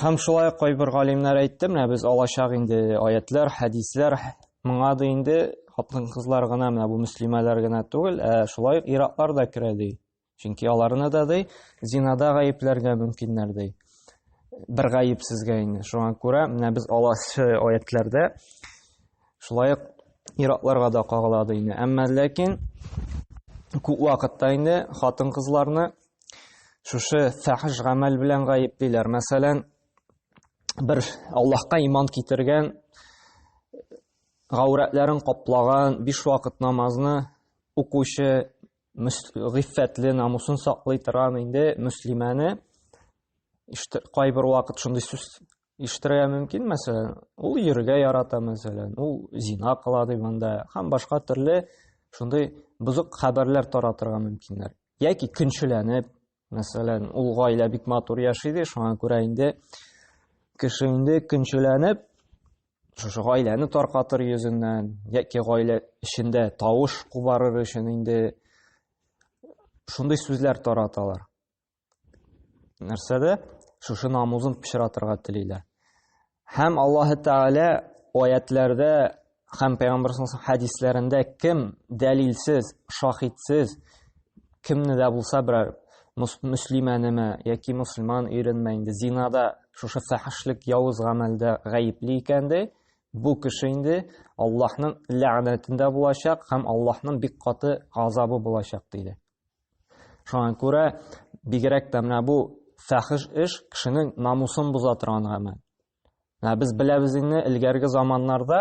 Һәм шулай ук кайбер галимнәр әйтте, менә без алачак инде аятлар, хәдисләр, моңа да инде хатын-кызлар гына, менә бу мөслимәләр генә түгел, ә шулай ук иратлар да керә ди. Чөнки аларны да ди зинада гаепләргә мөмкиннәр ди. Бер гаепсезгә инде. Шуңа күрә менә без алачы аятларда шулай ук иратларга да кагыла ди. Әмма ләкин күп вакытта инде хатын-кызларны Шушы фәхш гамәл белән гаеплиләр. Мәсәлән, бер Аллаһка иман китергән, гаурәтләрен каплаган, биш вакыт намазны укучы, гыйффәтле, намусын саклый торган инде мөслимәне кайбер вакыт шундый сүз ишетергә мөмкин, мәсәлән, ул йөрергә ярата, мәсәлән, ул зина кыла ди монда, һәм башка төрле шундый бузык хәбәрләр таратырга мөмкиннәр. яки көнчеләнеп мәсәлән ул гаилә бик матур яши иде шуңа күрә инде кеше инде көнчеләнеп шушы гаиләне таркатыр йөзеннән яки гаилә эчендә тавыш кубарыр өчен инде шундый сүзләр тараталар нәрсәдә шушы намузын пычратырга телиләр Һәм Аллаһы Тәгалә аятләрдә һәм Пәйгамбәр саллаллаху хәдисләрендә кем дәлилсез, шахидсез кемне дә булса берәр мөслимәнеме яки мусульман иренме инде зинада шушы фәхәшлек явыз гамәлдә гаепли икән дә бу кеше инде Аллаһның ләгънәтендә булачак һәм Аллаһның бик каты газабы булачак диде. Шуңа күрә бигрәк тә менә бу фәхиш эш кешенең намусын боза торган гамәл. Менә без беләбез инде элгәрге заманнарда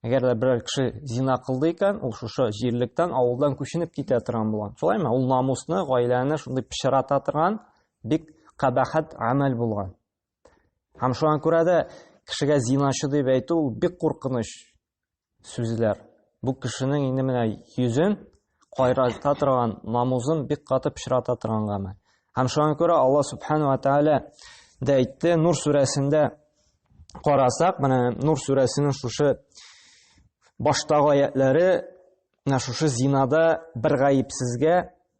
әгәр дә берәр кеше зина кылды икән, ул шушы җирлектән, авылдан күченеп китә торган булган. Шулаймы? Ул намусны, гаиләне шундый пычрата торган бик кабахат гамәл булган. Һәм шуңа күрә дә кешегә зиначы дип әйтү ул бик куркыныч. сүзләр. Бу кешенең инде менә йөзен кайрата торган, намузын бик каты пычрата торган гамәл. Һәм шуңа күрә Алла субхану ва тааля дә әйтте, Нур сүрәсендә карасак, менә Нур сүрәсенең шушы баштагы аятлары менә шушы зинада бер гаепсезгә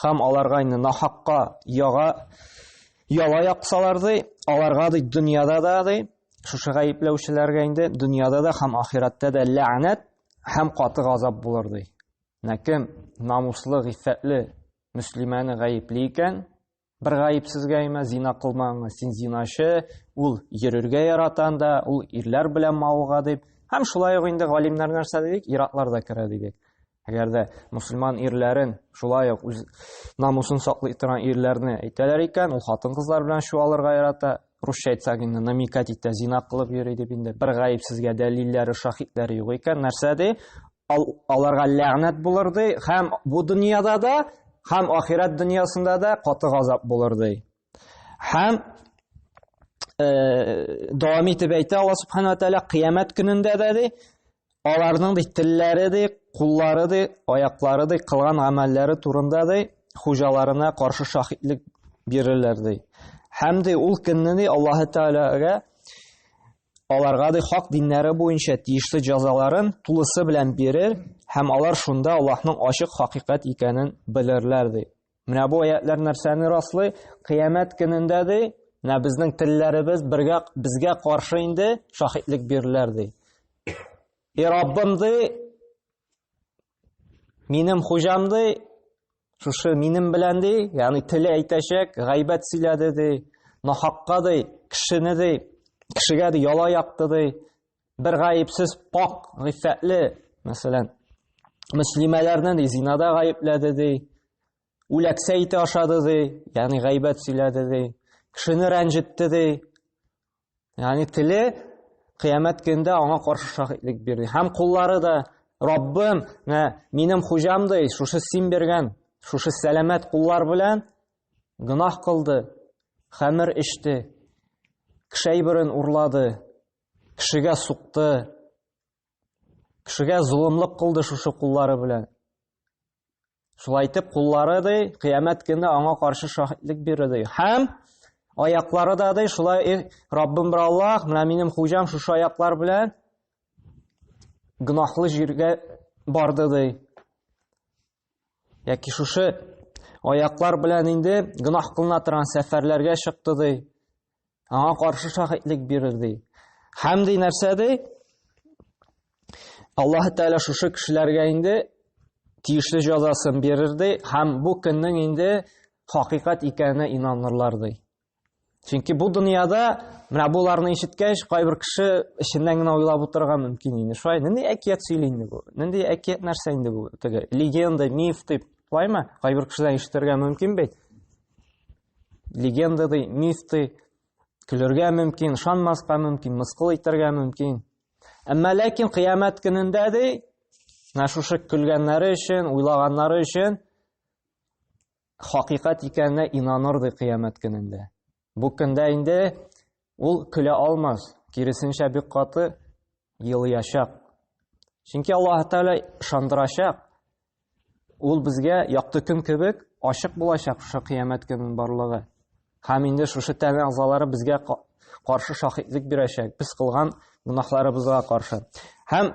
Хам аларга инде нахакка яга яла яксалар ди, аларга ди дөньяда да ди, шушы гаепләүчеләргә инде дөньяда да һәм ахирәттә дә ләгънәт һәм каты газап булыр ди. Нәкем намуслы, гыйффәтле мөслимәне гаепли икән, Бер гаепсезгә имә, зина кылмаңыз, син зиначы, ул йөрергә яратан да, ул ирләр белән мавыга дип. Һәм шулай ук инде галимнәр нәрсә дидек, иратлар да керә дидек. Әгәр дә мусульман ирләрен, шулай ук үз намусын саклый торган ирләрне әйтәләр икән, ул хатын-кызлар белән чуалырга ярата, русча әйтсәк инде намекать итә, зина кылып йөри дип инде бер гаепсезгә дәлилләре, шаһитләре юк икән, нәрсә ди? Ал, аларга ләгънәт булыр ди, һәм бу дөньяда да, һәм ахирәт дөньясында да каты газап булыр ди. Һәм э, дәвам итеп әйтә Алла субхана тәала кыямәт көнендә дә ди, аларның ди телләре ди, куллары ди, аяклары ди, кылган гамәлләре турында ди, хуҗаларына каршы шаһитлек бирерләр ди. Һәм ди ул көнне ди Аллаһы Тәгаләгә аларга ди хак диннәре буенча тиешле җәзаларын тулысы белән бирер һәм алар шунда Аллаһның ачык хакыйкать икәнен белерләр ди. Менә бу аятлар нәрсәне раслый? Кыямәт көнендә ди, менә безнең телләребез бергә безгә каршы инде шаһитлек бирерләр ди. И Раббым ди, минем хуҗам ди, Шушы минем белән ди, ягъни теле әйтәчәк, гайбәт сөйләде ди, нахакка ди, кешене ди, кешегә ди яла якты ди, бер гаепсез пак, гыйффәтле, мәсәлән, мөслимәләрне ди зинада гаепләде ди, үләксә ите ашады ди, ягъни гайбәт сөйләде ди, кешене рәнҗетте ди, Ягъни теле кыямәт көндә аңа каршы шаһитлек бирде. Һәм куллары да Раббым, менә минем хуҗам ди, шушы син биргән, шушы сәламәт куллар белән гынах кылды, хәмер эчте, кешәй бирен урлады, кешегә сукты, кешегә зулымлык кылды шушы куллары белән. Шулай итеп, куллары ди, кыямәт көне аңа каршы шаһитлек бирер ди. Һәм аяклары да ди, шулай и Раббым бер Аллаһ, менә минем хуҗам шушы аяклар белән гөнаһлы җиргә барды ди. Яки шушы аяклар белән инде гөнаһ кылына торган сәфәрләргә чыкты ди. Аңа каршы шаһитлек бирер ди. Һәм ди нәрсә ди? Аллаһ Тәгалә шушы кешеләргә инде тиешле җәзасын бирер ди һәм бу көннең инде хакыйкать икәненә инанырлар ди. Чөнки бу дөньяда менә буларны ишеткәч, кайбер кеше эченнән генә уйлап утырырга мөмкин инде. Шулай, нинди әкият сөйли инде бу? Нинди әкият нәрсә инде бу? Теге легенда, миф дип, шулаймы? Кайбер кешедән ишетергә мөмкин бит. легенда ди, миф ди, көлергә мөмкин, шанмаска мөмкин, мыскыл итәргә мөмкин. Әмма ләкин кыямәт көнендә ди, менә шушы көлгәннәре өчен, уйлаганнары өчен хакыйкать икәненә инаныр ди кыямәт көнендә. Бу көндә инде Ул көлә алмас, киресенчә бик каты елыячак. Чөнки Аллаһ Тәгалә шандырачак. Ул безгә якты көн кебек ачык булачак шушы кыямәт көнен барлыгы. Һәм инде шушы тәне агзалары безгә каршы шахидлек бирәчәк. Без кылган гунахларыбызга каршы. Һәм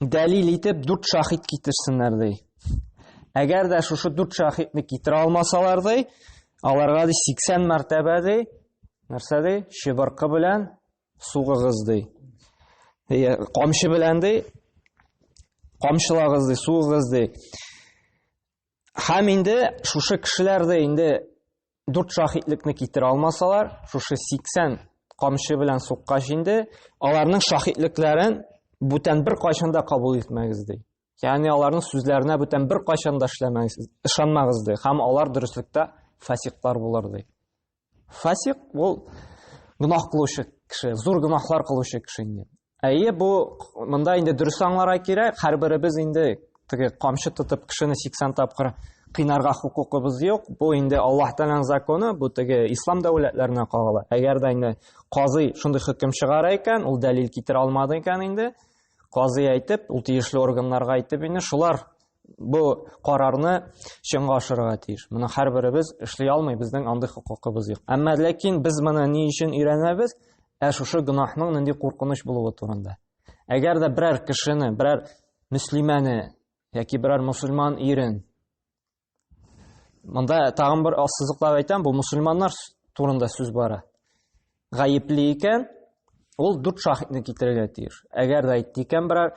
дәлил итеп дүрт шахид китерсеннәр ди әгәр дә шушы дүрт шахидны китерә алмасалар ди аларга ди сиксән мәртәбә ди нәрсә ди чыбыркы белән сугыгыз ди камчы белән ди камчылагыз ди сугыгыз ди һәм инде шушы кешеләр дә инде Дүрт шаһитлекне китерә алмасалар, шушы 80 камчы белән суккач инде, аларның шаһитлекләрен бүтән бер кайчан да кабул итмәгез ди. Ягъни аларның сүзләренә бүтән бер кайчан да эшләмәгез, ышанмагыз ди. Һәм алар дөреслектә фасиклар булыр ди. Фасик ул гөнаһ кылучы кеше, зур гөнаһлар кылучы кеше инде. Әйе, бу монда инде дөрес аңларга кирәк. Һәрберебез инде теге камчы тотып кешене 80 тапкыр кыйнарга хукукыбыз юк. Бу инде Аллаһ Тәгаләнең законы, бу теге ислам дәүләтләренә кагыла. Әгәр дә инде казый шундый хөкем чыгара икән, ул дәлил китерә алмады икән инде, казый әйтеп, ул тиешле органнарга әйтеп инде, шулар бу карарны чынга ашырырга тиеш. Моны һәрберебез эшли алмый, безнең андый хокукыбыз юк. Әмма ләкин без моны ни өчен өйрәнәбез? Ә шушы гөнаһның нинди куркыныч булуы турында. Әгәр дә берәр кешене, берәр мөслимәне яки берәр мусульман ирен Монда тагын бер ассызыклап әйтәм, бу мусульманнар турында сүз бара. гаепле икән, ул дүрт шаһитны китерергә тиеш. Әгәр дә әйтте икән берәр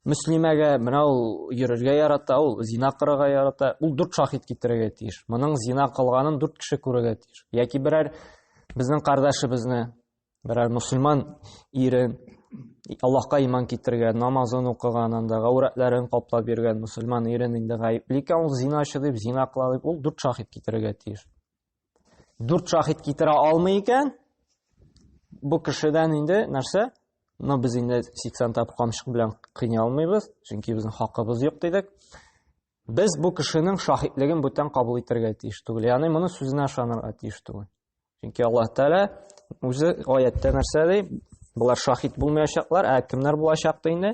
мөслимәгә, менә ул йөрергә ярата, ул зина кырырга ярата, ул дүрт шаһит китерергә тиеш. Моның зина кылганын дүрт кеше күрергә тиеш. Яки берәр безнең кардәшебезне, берәр мусульман ирен Аллаһка иман китергән, намазын укыган, анда гаурәтләрен каплап йөргән мусульман ирен инде гаепле икән, ул зиначы дип, зина кыла дип, ул дүрт шаһит китерергә тиеш. Дүрт шахид китерә алмый икән, бу кешедән инде нәрсә? Но без инде 80 тап камчык белән кыйный алмыйбыз, чөнки безнең хакыбыз юк дидек. Без бу кешенең шаһитлеген бүтән кабул итәргә тиеш түгел. Ягъни моны сүзенә ышанырга тиеш түгел. Чөнки Аллаһ Тәгалә үзе аятта нәрсә ди? Булар шаһит булмаячаклар, ә кемнәр булачак ди инде?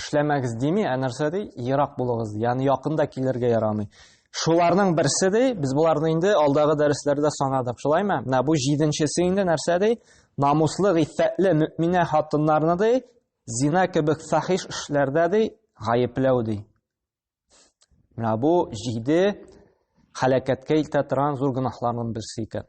Эшләмәгез дими, ә нәрсә ди? Ерак булыгыз, ягъни якында килергә ярамый. Шуларның берсе ди, без боларны инде алдагы дәресләрдә санадык, шулаймы? Менә бу җиденчесе инде нәрсә ди? Намуслы, гыйффәтле мөэминә хатыннарны ди, зина кебек фахиш эшләрдә ди, гаепләү ди. Менә бу җиде һәлакәткә илтә торган зур гөнаһларның берсе икән.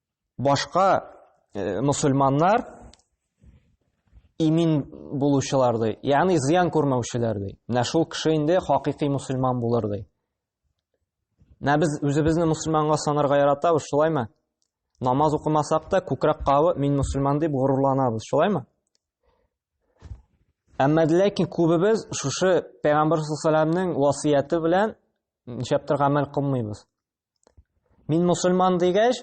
Башка мусульманнар имин булучылар ди, ягъни зыян күрмәүчеләр ди. Менә шул кеше инде хакыйкый мусульман булыр ди. Менә без үзебезне мусульманга санарга яратабыз, шулаймы? Намаз укымасак та, күкрәк кавы мин мусульман дип горурланабыз, шулаймы? Әмма ләкин күбебез шушы Пәйгамбәр саллаллаһу алейһи васыяте белән ничәптер гамәл кылмыйбыз. Мин мусульман дигәч,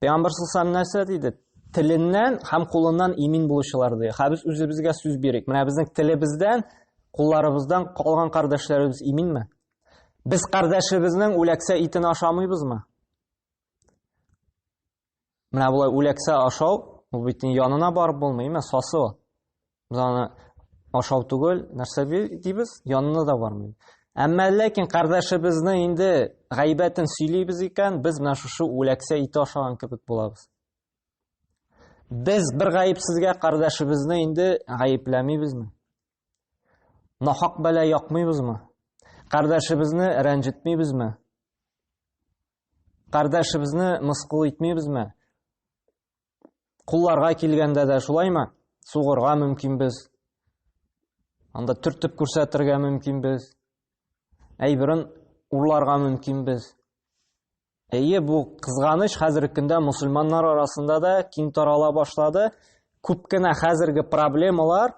Пәйгамбер саллаллаху нәрсә диде? Теленнән һәм кулыннан имин булучылар ди. Һә без үзебезгә сүз бирик. Менә безнең телебездән, кулларыбыздан калган кардәшләребез иминме? Без кардәшебезнең үләксә итен ашамыйбызмы? Менә болай үләксә ашау, ул бит янына барып булмый, имә сасы ул. Без аны ашау түгел, нәрсә дибез, янына да бармый. Әмма ләкин кардәшебезне инде гайбәтен сөйлибез икән, без менә шушы үләксә ите ашаган кебек булабыз. Без бер гаепсезгә кардәшебезне инде гаепләмибезме? Нахак бәла якмыйбызмы? Кардәшебезне рәнҗетмибезме? Кардәшебезне мыскыл итмибезме? Кулларга килгәндә дә шулаймы? Сугырга мөмкин без. Анда төртеп күрсәтергә мөмкин без. Әйберен урларга мөмкин без. Әйе, бу кызганыч хәзерге көндә мусульманнар арасында да киң тарала башлады. Күп кенә хәзерге проблемалар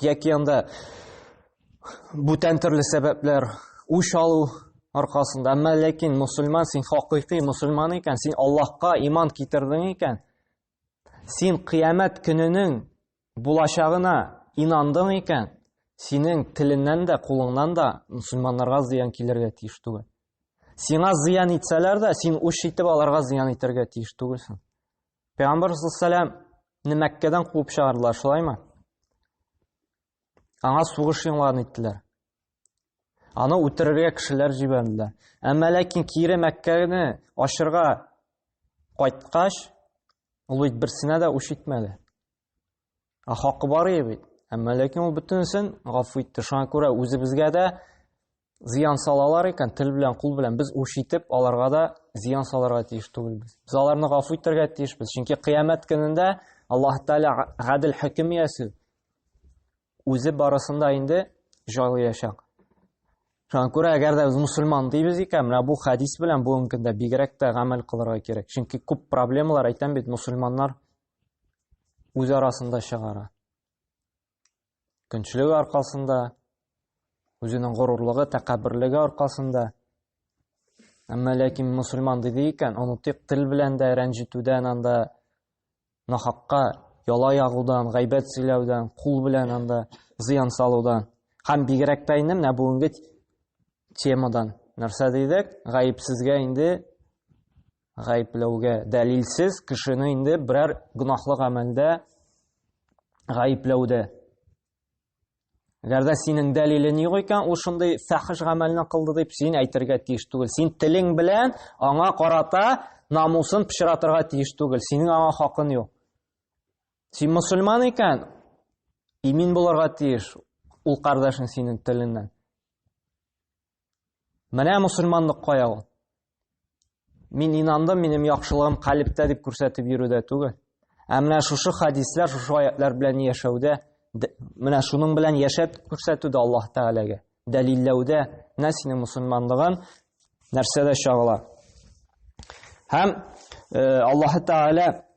Яки анда бүтән төрле сәбәпләр үч алу аркасында. Әмма ләкин мусульман син хакыйкый мусульман икән, син Аллаһка иман китердең икән. Син кыямәт көненең булачагына инандың икән, синең теленнән дә, кулыңнан да мусульманнарга зыян килергә тиеш түгел. Сиңа зыян итсәләр дә, син үч итеп аларга зыян итәргә тиеш түгелсең. Пәйгамбар саллаллаху алейһи Мәккәдән куып чыгардылар, шулаймы? Аңа сугыш юңларын иттеләр. Аны үтерергә кешеләр җибәрделәр. Әмма ләкин кире Мәккәне ачырга кайткач, ул бит берсенә дә үч итмәде. Ә хакы бар иде бит. Әмма ләкин ул бөтенесен гафу итте. Шуңа күрә үзебезгә дә зыян салалар икән, тел белән, кул белән без үш итеп, аларга да зыян салырга тиеш түгелбез. Без аларны гафу итәргә тиешбез. Чөнки кыямәт көнендә Аллаһ Тәгалә гадел хөкем ясый. Үзе барысында инде җайлаячак. Шуңа күрә, әгәр дә без мусульман дибез икән, менә бу хәдис белән бүгенге көндә бигрәк тә гамәл кылырга кирәк. Чөнки күп проблемалар әйтәм бит, мусульманнар үз арасында чыгара. Көнчлеге аркасында, үзенең горурлыгы, тәкәбберлеге аркасында. Әмма ләкин мусульман диде икән, онытыйк тел белән дә рәнҗетүдән анда нахакка яла ягудан, гайбәт сөйләүдән, кул белән анда зыян салудан. Һәм бигрәк тә инде менә бүгенге темадан нәрсә дидек? Гаепсезгә инде гаепләүгә дәлилсез кешене инде берәр гөнаһлы гамәлдә гаепләүдә Әгәр дә синең дәлилең юк икән, ул шундый фәхиш гамәлне кылды дип син әйтергә тиеш түгел. Син телең белән аңа карата намусын пычратырга тиеш түгел. Синең аңа хакын юк. Син мусульман икән, имин булырга тиеш ул кардәшең синең теленнән. Менә мусульманлык кая ул? Мин инандым, минем яхшылыгым калиптә дип күрсәтеп йөрүдә түгел. Ә менә шушы хадислар, шушы аятлар белән яшәүдә, менә шуның белән яшәп күрсәтүдә Аллаһ Тәгаләгә, дәлилләүдә, менә синең мусульманлыгың нәрсәдә чагыла. Һәм э, Аллаһ Тәгалә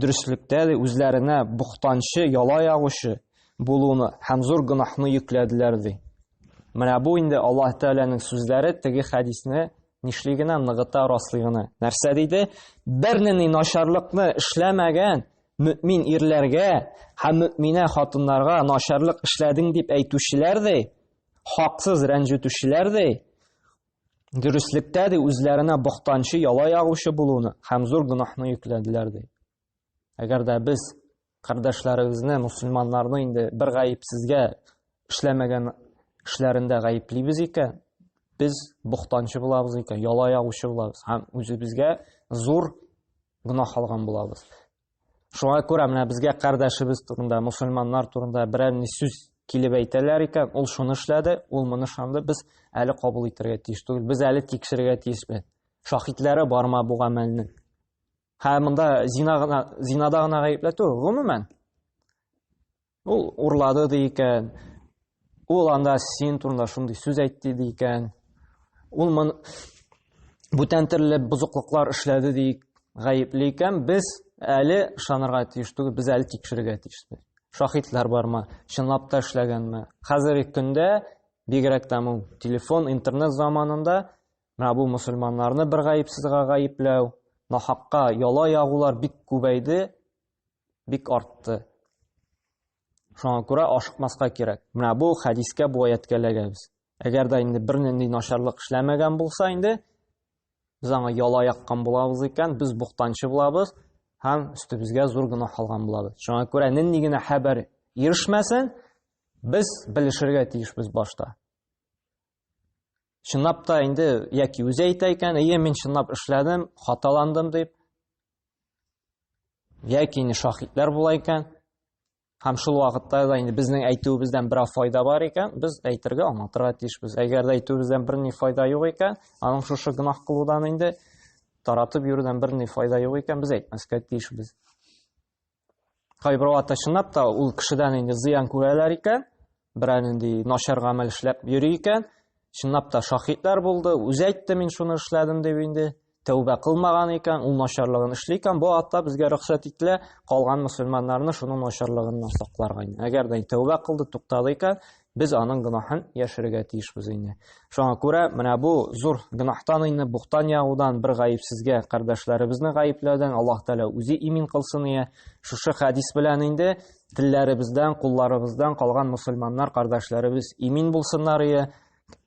Дөреслектә дә үзләренә бухтанчы, яла ягучы булуны һәм зур гөнаһны йөкләделәр ди. Менә бу инде Аллаһ Тәгаләнең сүзләре теге хәдисне нишли генә ныгыта раслый гына. Нәрсә диде? Бернинди начарлыкны эшләмәгән мөмин ирләргә һәм мөминә хатыннарга начарлык эшләдең дип әйтүчеләр ди, хаксыз рәнҗетүчеләр ди, Дөреслектә ди үзләренә бохтанчы яла ягучы булуны һәм зур гөнаһны йөкләделәр ди. Әгәр дә без кардәшләребезне, мусульманнарны инде бер гаепсезгә эшләмәгән эшләрендә гаеплибез икән, без бохтанчы булабыз икән, яла ягучы булабыз һәм үзебезгә зур гөнаһ алган булабыз. Шуңа күрә менә безгә кардәшебез турында, мусульманнар турында берәр ни сүз килеп әйтәләр икән, ул шуны эшләде, ул моны шанды, без әле кабул итәргә тиеш түгел, без әле тикшерергә тиешбез. Шахидләре барма бу гамәлнең. Һәм монда зина гына, зинада гына гаепләтү, гомумән, Ул урлады ди икән. Ул анда син турында шундый сүз әйтте ди икән. Ул мон бүтән төрле бозыклыклар эшләде ди гаепли икән. Без әле ышанырга тиеш түгел, без әле тикшерергә тиешбез. Шаһитлар бармы? Чынлап та эшләгәнме? Хәзерге көндә бигрәк тә ул телефон, интернет заманында менә бу мусульманнарны бер гаепсезгә гаепләү, нахакка яла ягулар бик күбәйде. бик артты. Шуңа күрә ашыкмаска кирәк. Менә бу хәдискә, бу аятка эләгәбез. Әгәр дә инде бернинди начарлык эшләмәгән булса инде, без аңа яла яккан булабыз икән, без буктанчы булабыз һәм өстебезгә зур гына алган булабыз. Шуңа күрә нинди генә хәбәр ирешмәсен, без белешергә тиешбез башта. чынлап та инде яки үзе әйтә икән әйе мин чынлап эшләдем хаталандым дип яки инде шаһитлар була икән һәм шул вакытта да инде безнең әйтүебездән бераз файда бар икән без әйтергә аңлатырга тиешбез әгәр дә әйтүебездән берни файда юк икән аның шушы гөнаһ кылудан инде таратып йөрүдән берни файда юк икән без әйтмәскә тиешбез Кайбер вакытта чынлап та ул кешедән инде зыян күрәләр икән, берәр нинди начар гамәл эшләп йөри икән, чынлап та шаһитлар булды, үзе әйтте мин шуны эшләдем дип инде, тәүбә кылмаган икән, ул начарлыгын эшли икән, бу вакытта безгә рөхсәт ителә калган мөселманнарны шуның начарлыгыннан сакларга. Әгәр дә тәүбә кылды, туктады икән, Без аның гөнаһын яшерергә тиешбез инде. Шуңа күрә менә бу зур гөнаһтан инде бухтан ягудан бер гаепсезгә кардәшләребезне гаепләүдән Аллаһ Тәгалә үзе имин кылсын ия. Шушы хәдис белән инде телләребездән, кулларыбыздан калган мусульманнар кардәшләребез имин булсыннар ия.